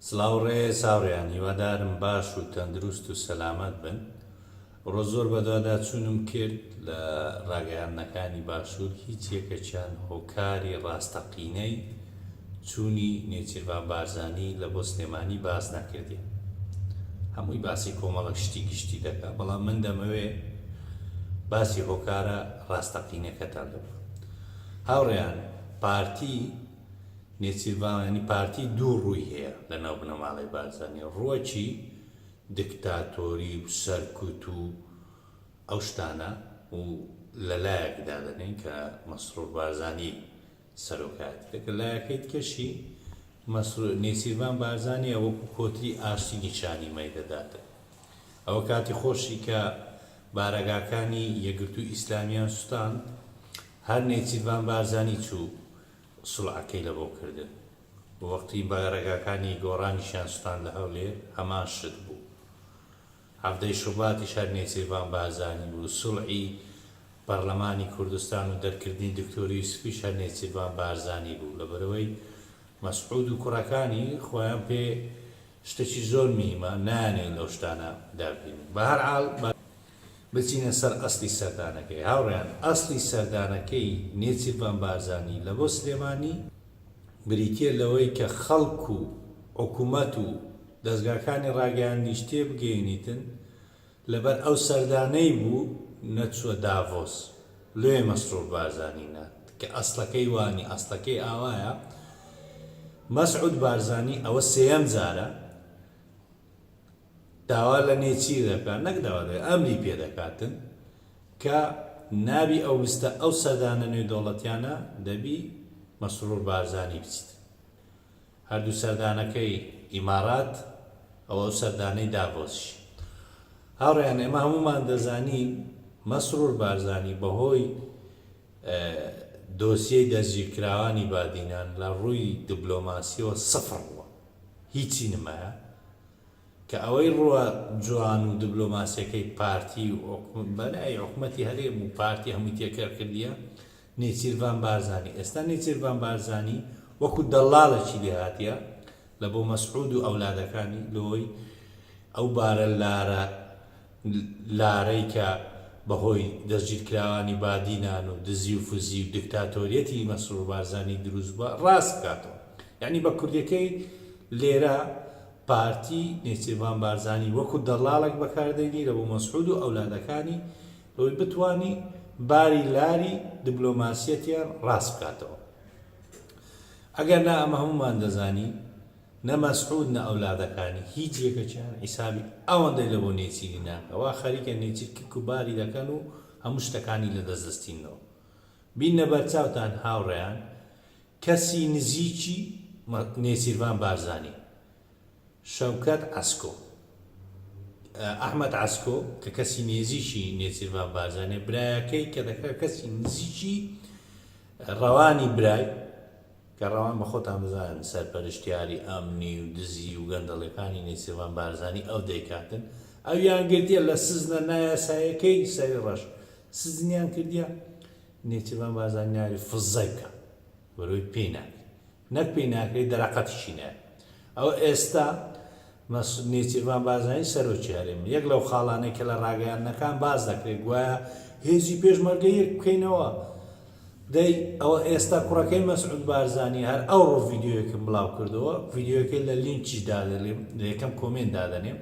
سڵاو ڕێز هاوڕێیان هیوادارم باش و تەندروست و سەلامەت بن ئەوڕۆ زۆر بەدواداچوونم کرد لە ڕاگەیاندنەکانی باشوور هیچ یەکەکیان هۆکاری ڕاستەقینەی چوونی نێچیرڤان بارزانی لە بۆ سلێمانی باس نەکردین هەمووی باسی کۆمەڵە شتی گشتی دەکات بەڵام من دەمەوێ باسی هۆکارە ڕاستەقینەکەتان دەبم هاوڕێیان پارتی نێچیرڤان یانی پارتی دوو ڕووی هەیە لە ناو بنەماڵەی بارزانی ڕووەکی دکتاتۆری و سەرکوت و ئەو شتانە و لە لایەک دادەنێن کە مەسرور بارزانی سەرۆکایەتیەک لە لایەکەی تکەشی مەسرور نێچیرڤان بارزانیە وەکو کۆتری ئاشتی نیشانی مەی دەداتن ئەوە کاتی خۆشی کە بارەگاکانی یەگرتو ئیسلامیان سوتاند هەر نێچیرڤان بارزانی چوو سڵاکەی لە بۆ کردن. وەختی بارەگاکانی گۆڕانیشیان سوتان لە هەولێر هەمان شت بوو. حەڤدە ی شوباتیش هەر نێچیرڤان بارزانی بوو. سڵی پەڕلەمانی کوردستان و دەرکردنی دکتۆر یوسفیش هەر نێچیرڤان بارزانی بوو. لەبەرئەوەی مەسعود و کوڕەکانی خۆیان پێ شتەکی زۆر میهمە نایانەوێت لەو شتانە دا بینن. بەهەرحاڵ. بچینە سەر ئەسڵی سەردانەکەی هاوڕێیان ئەسڵی سەردانەکەی نێچیرڤان بارزانی لە بۆ سلێمانی بریتیە لەوەی کە خەڵک و حکومەت و دەزگاکانی ڕاگەیاندنیش تێبگەینیتن لەبەر ئەو سەردانەی بوو نەچووە داڤۆس لۆیە مەسرور بارزانی نارد کە ئەسڵەکەی وانیە ئەسڵەکەی ئاوایە مەسعود بارزانی ئەوە سێیەم جارە داوا لە نێچیر دەکات نەک داوا دەکات ئەمری پێ دەکاتن کە نابی ئەو لستە ئەو سەردانە نێودەوڵەتیانە دەبی مەسرور بارزانی بچیت هەردوو سەردانەکەی ئیمارات ئەو ئەو سەردانەی داڤۆسش هاوڕێیان ئێمە هەمومان دەزانین مەسرور بارزانی بەهۆی دۆسیەی دەستگیرکراوانی بادینان لە ڕووی دبلۆماسیەوە سفڕ بووە هیچی نمایە کە ئەوەی ڕووە جوان و دبلۆماسیەکەی پارتی و بەلای حکومەتی هەرێم و پارتی هەمووی تێکەر کردیە نێچیرڤان بارزانی ئێستا نێچیرڤان بارزانی وەکو دەلالەکی لێ هاتیە لە بۆ مەسعود و ئەولادەکانی لۆی ئەو بارە لارە لارەی کە بە هۆی دەستگیرکراوانی بادینان و دزی و فزی و دکتاتۆریەتی مەسرور بارزانی دروست بوە راست بکاتەوە یانی بە کوردیەکەی لێرە پارتی نێچیرڤان بارزانی وەکو دەڵاڵێک بەکار دەینیرە بۆ مەسعود و ئەولادەکانی بەوەی بتوانی باری لاری دبلۆماسیەتیان راست بکاتەوە ئەگەر نا ئەمە هەمومان دەزانی نە مەسعود نە ئەولادەکانی هیچ یەکەکیان حیسابی ئەوەندەی لە بۆ نێچیری ناکە وا خەریکە نێچیر کرک و باری دەکەن و هەموو شتەکانی لە دەست دەستینەوە بینە بەرچاوتان هاوڕێیان کەسی نزیکی نێچیرڤان بارزانی شەوکەت عەسکۆ ئەحمەد عەسکۆ کە کەسی نێزیکی نێچیرڤان بارزانێ برایەکەی کە دەکرا کەسی نزیکی ڕەوانی برای کە ڕەوان بە خۆتان بزانن سەرپەرشتیاری ئەمنی و دزی و گەندەڵیەکانی نێچیرڤان بارزانی ئەو دەیکاتن ئەویان گرتیە لە سجنە نایاسایەکەی سەری ڕەش سجنیان کردیە نێچیرڤان بارزانی ناوی فزەی بکە بەرۆی پێی ناکری نەک پێی ناکری دەرەقەتیشی نایە ئەوە ئێستا مەسعود نێچیرڤان بارزانی سەرۆکی هەرێمە، یەک لەو خاڵانەی کە لە راگەیاندنەکان باس دەکرێت گوایە هێزی پێشمەرگە یەک بکەینەوە، دەی ئەوە ئێستا کوڕەکەی مەسعود بارزانی هەر ئەوڕۆ ڤیدیۆیەکم بڵاو کردەوە، ڤیدیۆیەکەی لە لینکیش دادەلێم لە یەکەم کۆمێنت دادەنێم،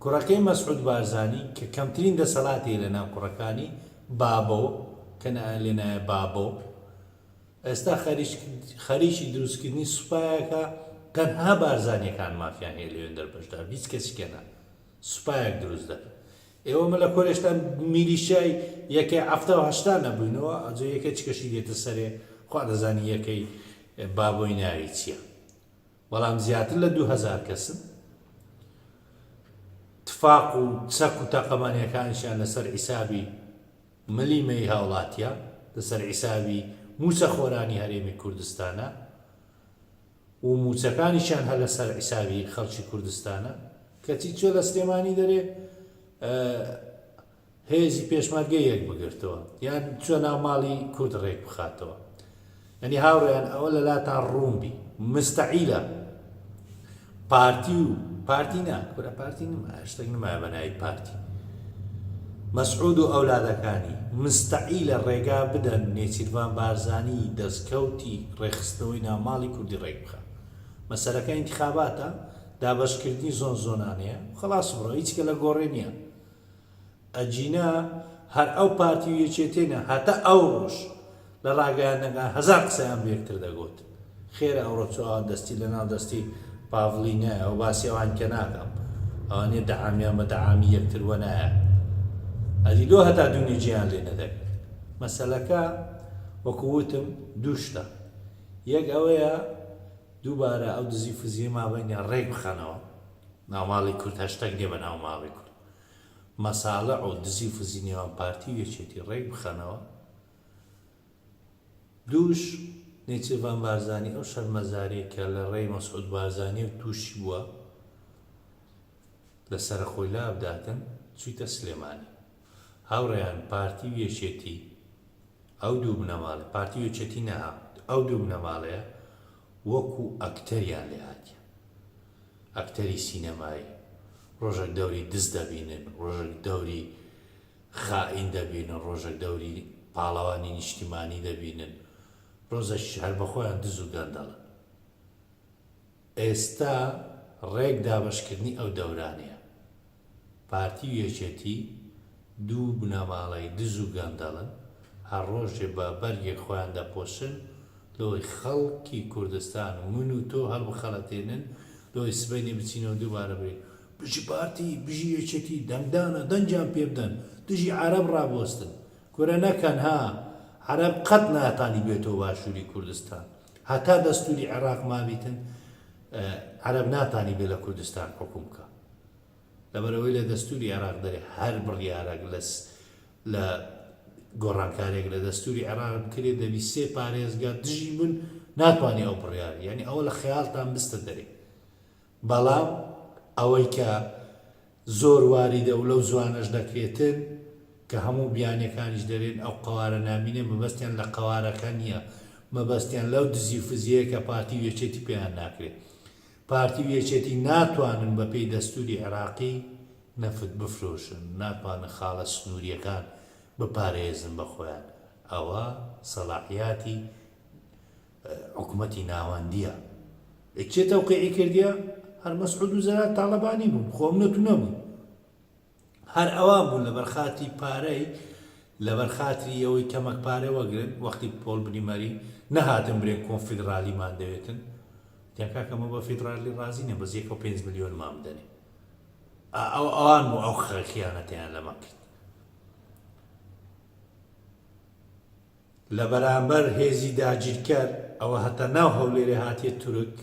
کوڕەکەی مەسعود بارزانی کە کەمترین دەسەڵاتی لە ناو کوڕەکانی بابۆ کە لێنایە بابۆ، ئێستا خەریکی دروستکردنی سوپایەکە تەنها بارزانیەکان مافیان هەیە لەوێن دەربەشدار هیچ کەسیکە نا سوپایەک دروست دەکەن ئێوە مە لە کۆلێشتا میلیشای یەکێ ئەفتا هەشتا نەبووینەوە ئەجێ یەکە چکەشی دێتە سەرێ خوا دەزانی یەکەی بابۆی ناوی چییە بەڵام زیاتر لە دوهزار کەسن تفاق و چەک و تەقەمانیەکانشیان لەسەر عیسابی ملی مەی هاوڵاتیا لەسەر حیسابی موچە خۆرانی هەرێمی کوردستانە و موچەکانیشیان هەر لەسەر حیسابی خەڵکی کوردستانە کەچی چۆ لە سلێمانی دەرێ هێزی پێشمەرگە یەک بگرتەوە یان چۆ ناو ماڵی کورد ڕێک بخاتەوە یانی هاوڕێیان ئەوە لەلاتان ڕوون بی مستەعیلە پارتی و پارتی نا کورە پارتی نمایە شتێک نمایە بە ناوی پارتی مەسعود و ئەولادەکانی مستەعیلە ڕێگا بدەن نێچیرڤان بارزانی دەستکەوتی ڕێخستنەوەی ناماڵی کوردی ڕێک بخە مەسەرەکە ئینتخاباتە دابەشکردنی زۆن زۆنانەیە خلاص بڕۆ هیچکە لە گۆڕێ نییە ئەگینا هەر ئەو پارتی و یەکێتیە نە هەتا ئەوڕۆش لە ڕاگەیاندنەکان هەزار قسەیان بە یەکتر دەگۆت خێرە ئەوڕۆ چۆ ئەوان دەستی لە ناو دەستی پاڤڵی نایە و باسی ئەوان کە ناکەم ئەوانێ دەعامیان بە دەعامی یەکتر وە نایە ئەدی لۆ هەتا دوونی جیان لێ نەدەک مەسەلەکە وەکووتم دووشتە یەک ئەوەیە دووبارە ئەو دزی فزیە مابەینە ڕێک بخەنەوە ناوماڵی کورد هەشتەک نیە بە ناوماڵی کورد مەساڵح و دزی و فزی نێوان پارتی و یەکێتی ڕێک بخەنەوە دووش نێچیرڤان بارزانی ئەو شەرمەزاریە کە لە ڕێی مەسعود بارزانی و تووشی بووە لە سەرخۆی لا بداتن چویتە سلێمانی هاوڕێیان پارتی و یەکێتی ئەو دوو بنەماڵە پارتی و یەکێتی نەها ئەو دوو بنەماڵەیە وەکو ئەکتەریان لێهاتیە ئەکتەری سینەمایی، ڕۆژەک دەوری دز دەبینن، ڕۆژەک دەوری خائین دەبینن، ڕۆژەک دەوری پاڵەوانی نیشتیمانی دەبینن، ڕۆزەکیش هەر بە خۆیان دز و گەندەڵن. ئێستا ڕێک دابەشکردنی ئەو دەورانەیە. پارتی و یەکێتی دوو بنەماڵەی دز و گەندەڵن، هەر ڕۆژێ بە بەرگێک خۆیان دەپۆشن لۆی خەڵکی کوردستان و من و تۆ هەڵبخەڵەتێنن، لۆی سبەینێ بچینەوە دووبارە بڵێین، بژی پارتی، بژی یەکێتی، دەنگدانە، دەنگیان پێ بدەن، دژی عەرەب ڕابوەستن. کورە نەکەن ها، عەرەب قەت ناتانی بێتەوە باشووری کوردستان، هەتا دەستووری عێڕاق مابیتن عەرەب ناتانی بێ لە کوردستان حوکم بکا. لەبەرئەوەی لە دەستوری عێراق دەرێ هەر بڕیارەک لە لە گۆڕانکارێک لە دەستوری عێراق بکرێت دەبی سێ پارێزگا دژی بن ناتوانانی ئەو بڕیار یعنی ئەوە لە خەیاڵتان بستە دەرێ بەڵام ئەوەی کە زۆر واریدە و لەو زوانەش دەکرێتن کە هەموو بیانەکانیش دەرێن ئەو قوارە نامینێ مەبەستیان لە قوارەکە نییە مەبەستیان لەو دزی و فزیەیە کە پارتی وێچێتی پێیان ناکرێت پارتی و یەکێتی ناتوانن بە پێی دەستوری عێراقی نەفت بفرۆشن، ناتوانن خاڵە سنوریەکان بپارێزن بە خۆیان، ئەوە سەلاحیاتی حکومەتی ناوەندیە. ئە کێ تەوقیعی کردیە؟ هەر مەسعود و زەرار تاڵەبانی بوون، خۆ ئەم نەتونە بوون. هەر ئەوان بوون لەبەر خاتری پارەی لەبەر خاتری ئەوەی کەمەک پارە وەگرن وەختی پۆل بریمەری نەهاتن برێن کۆنفیدرالیمان دەوێتن وتیان کاکە مە بە فیدرالی ڕازی نیم بەس یەکەو پێنج ملیۆنمان بدەنێ ئەو ئەوان بوو ئەو خەخیانەتیان لەمە کرد لە بەرامبەر هێزی داگیرکەر ئەوە هەتا ناو هەولێرێ هاتیە تورک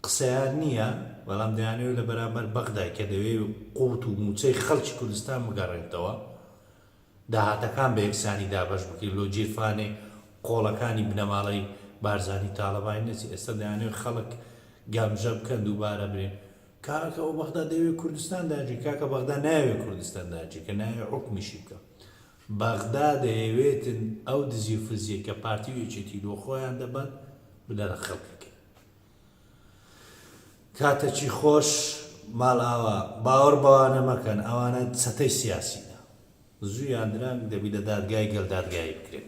قسەیان نییە، بەڵام دەیانەوێت لە بەرامبەر بەغدای کە دەوێت قوت و موچەی خەڵکی کوردستان بگەڕێنتەوە، داهاتەکان بە یەکسانی دابەش بکرێت، لۆ گیرفانێ قۆڵەکانی بنەماڵەی بارزانی تاڵەبانی نەچێت، ئێستا دەیانەوێت خەڵک گەمژە بکەن دووبارە برێن. کاکە ئەو بەغدا دەیەوێت کوردستان داگیر کاکە بەغدا نایەوێت کوردستان داگیر کە نایەوێت حوکمیشی بکا. بەغدا دەیەوێتن ئەو دزی و فزیەی کە پارتی و یەکێتی بۆ خۆیان دەبەن بنەرە خەڵکی کەن. کاتەکی خۆش ماڵئاوا باوەڕ بەوانە مەکەن ئەوانە چەتەی سیاسینە زوو یان درەنگ دەبی لە دادگای گەل دادگایی بکرێن.